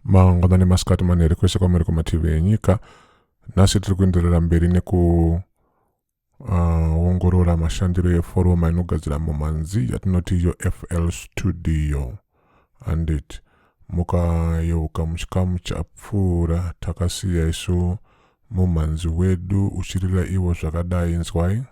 mangwana nemasikati manheri kwese kwamuri kumativi enyika nhasi tiri kuenderera mberi nekuongorora ah, uh, mashandiro eforoma inogadzira mumanzi yatinoti yo fl studio handiti mukayeuka muchikamu chapfuura takasiya isu mumhanzi wedu uchirira ivo zvakadai inzwai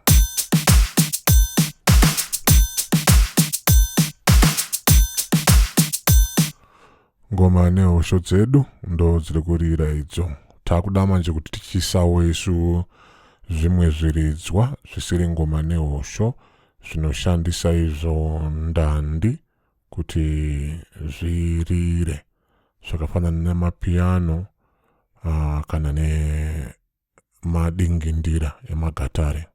ngoma nehosho dzedu ndo dziri kurira idzo takuda manje kuti tichisawo isu zvimwe zviridzwa zvisiri ngoma nehosho zvinoshandisa izvo ndandi kuti zvirire zvakafanana nemapiano uh, kana nemadingindira emagatare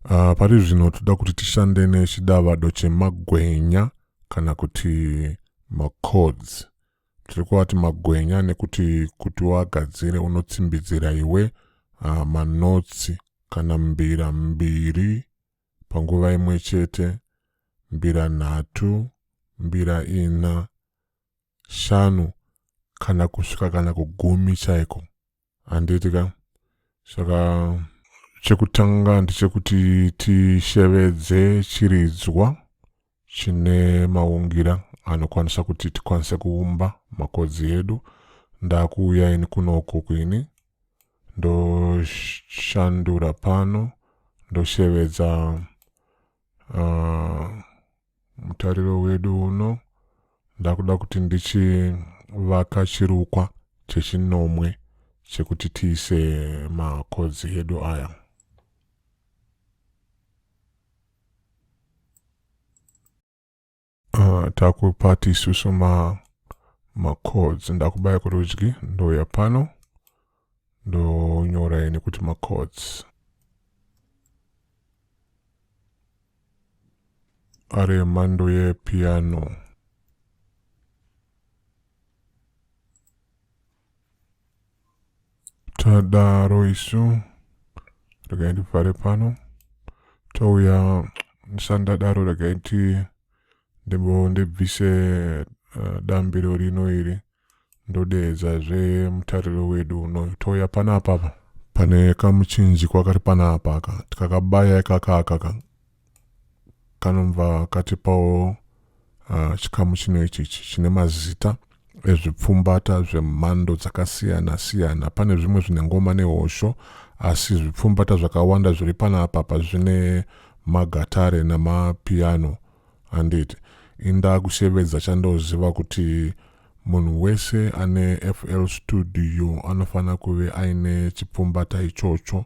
uh, pari zvino toda kuti tishande nechidavado chemagwenya kana kuti macords tiri kuvati magwenya nekuti kuti wagadzire unotsimbidzira iwe uh, manotsi kana mbira mbiri panguva imwe chete, mbira nhatu, mbira ina, shanu kana kusvika kana kugumi chaiko. Handiti ka? Saka chekutanga ndechekuti tishevedze chiridzwa chine maungira anokwanisa kuti tikwanise kuumba makodzi edu ndakuuya ini kunoko kwini ndoshandura pano ndoshevedza uh, mutariro wedu uno ndakuda kuti ndichivaka chirukwa chechinomwe chekuti tiise makodzi edu aya Uh, takupati isusu ma macodes ndakubaya kurudyi ndouya pano ndonyora ini kuti macodes ari emhando yepiano tadaro isu regai ndivhare pano touya sandadaro regai ti ndimbo ndibvise eh, dambiro rino iri ndodeedza zve mutariro wedu uno touya panapa apa pane kamuchinjikwa kari panapa aka tikakabaya ikaka akaka kanobva katipawo uh, chikamu chino ichi chine mazita ezvipfumbata zvemhando dzakasiyana siyana pane zvimwe zvine ngoma nehosho asi zvipfumbata zvakawanda zviri panapa pazvine magatare namapiano handiti inda kushevedza chandoziva kuti munhu wese ane fl studio anofanira kuve aine chipfumbata ichocho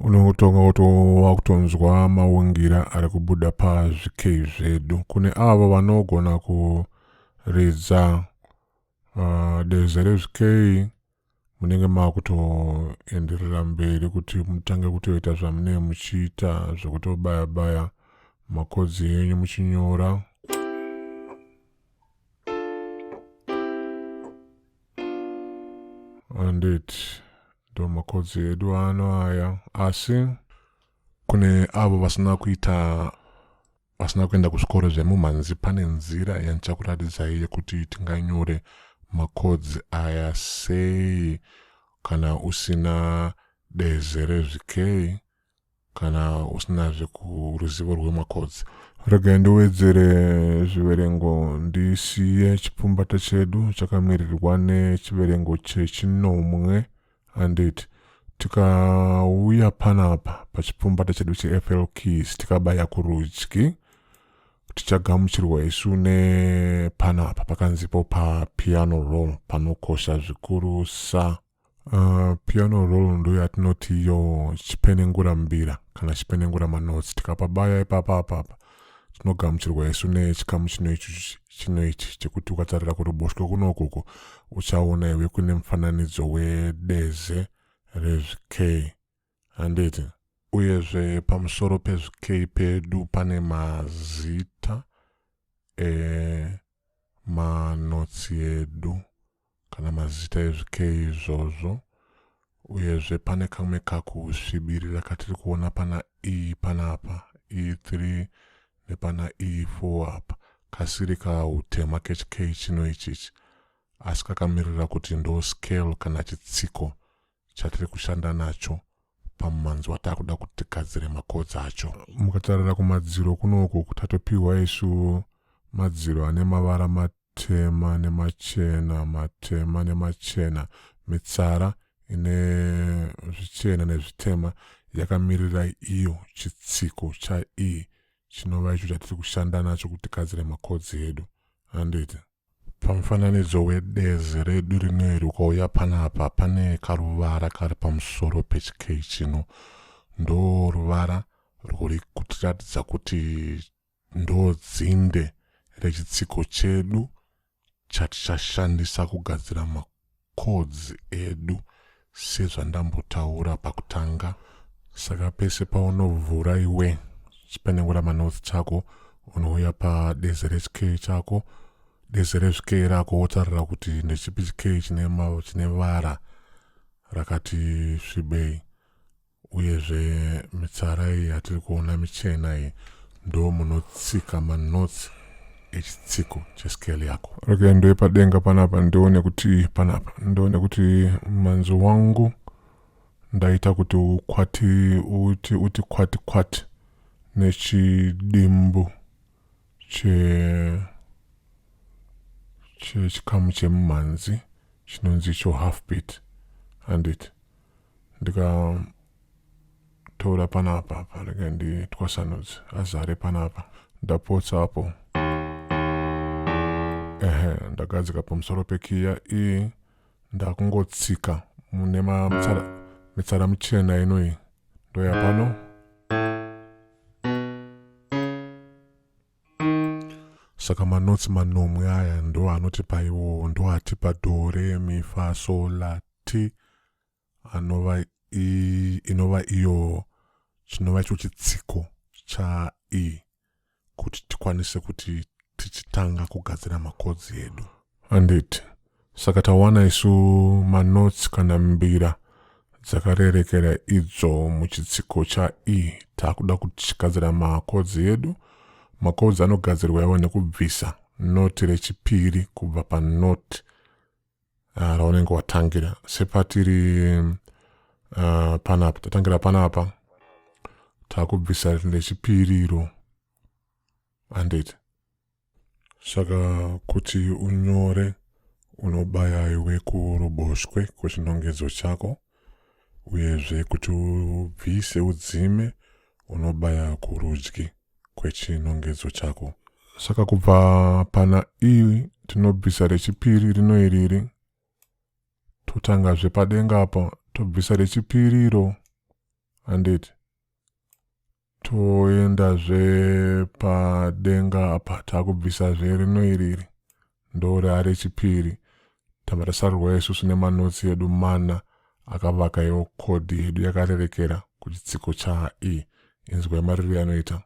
unotonga kutova kutonzwa maungira ari kubuda pazvikei zvedu kune avo vanogona kuridza uh, deze rezvikei munenge makutoenderera mberi kuti mutange kutoita zvamunee muchiita zvekutobaya baya makodzi enyu muchinyora andit ndomakodzi edu ano aya asi kune avo vasina kuita vasina kuenda kuzvikoro zvemumhanzi pane nzira yandichakuratidzai yekuti tinganyore makodzi aya sei kana usina deze rezvikei kana usina zvekuruzivo rwemacods regai ndiwedzere zviverengo ndisiye chipfumbata chedu chakamirirwa nechiverengo chechinomwe handiti tikauya panapa pachipfumbata chedu chefl keys tikabaya kurudyi tichagamuchirwa isu nepanapa pakanzipo papiano roll panokosha zvikurusa Uh, piano roll ndo yatinoti iyo chipenengura mbira kana chipenengura manotsi tikapabaya ipapa apapa tinogamuchirwa isu nechikamu chino ichi chino ichi chekuti ukatarira kuruboshwe kunokoko uchaona iwe kune mufananidzo wedeze rezvikei Handiti? Uyezve pamusoro pezvikei pedu pane mazita emanotsi edu kana mazita ezvikei izvozvo uyezve pane kamwe kakusvibirira katiri kuona pana e panapa e3 nepana e4 apa kasiri kautema kechikei chino ichichi asi kakamirira kuti ndo scale kana chitsiko chatiri kushanda nacho pamumanzi wataa kuda kuti tigadzire macots acho mukatarira kumadziro kunouku tatopihwa isu madziro ane mavara matema nemachena matema nemachena mitsara ine zvichena nezvitema yakamirira iyo chitsiko chaii chinova icho chatiri kushanda nacho kuti tigadzire makodzi edu handiti Pamufananidzo wedezi redu rino iri ukauya panapa pane karuvara kari pamusoro pechikei chino ndo ruvara rwuri kutiratidza kuti ndo dzinde rechitsiko chedu chatichashandisa kugadzira codes edu sezvandambotaura pakutanga. Saka pese paunovhura iwe chipenengura manotes chako unouya padeze rechk chako dese rezvike rako wotarira kuti ndechipi chike chine vara rakati svibei uyezve mitsara iyi yatiri kuona michena iyi ndo munotsika manotsi echitsiko cheskeli yako okay ndoye padenga panapa ndione kuti panapa ndione kuti manzi wangu ndaita kuti ukwati uti uti kwati kwati nechidimbu che chechikamu chemumhanzi chinonzi icho half beat handiti ndikatora panapa apa rega nditwasanudze azare panapa ndapotsa apo ehe ndagadzika pamusoro pekiya iyi ndakungotsika mune mitsara, mitsara michena inoyi ndoya pano saka manotsi manomwe aya ndo anotipa iwowo ndo atipa dore mifa sola miti anova inova iyo chinova icho chitsiko chai kuti tikwanise kuti tichitanga kugadzira makodzi edu handiti saka tawana isu manotsi kana mbira dzakarerekera idzo muchitsiko chai taakuda kutigadzira makodzi edu makodzi anogadzirwa iwa nekubvisa noti rechipiri kubva panoti ah, raunenge uh, watangira sepatiri uh, panapa tatangira panapa takubvisa rechipiri iro handiti saka kuti unyore unobaya iwe kuruboshwe kwechinongedzo chako uyezve kuti ubvise udzime unobaya kurudyi kwechinongedzo chako. Saka kubva pana iri tinobvisa rechipiri rino iriri, totanga zvepadenga apa tobvisa rechipiri iro handiti toenda zvepadenga apa takubvisa zverino iriri ndoora rechipiri tava tasarurwa isusu nemanotsi edu mana akavaka iwo kodhi yedu yakarerekera kuchitsiko chae inzwa yemariro anoita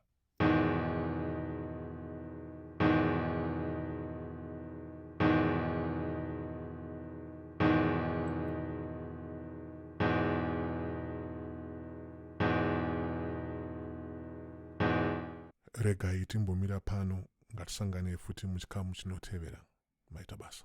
regai timbomira pano ngatisanganei futi muchikamu chinotevera maita basa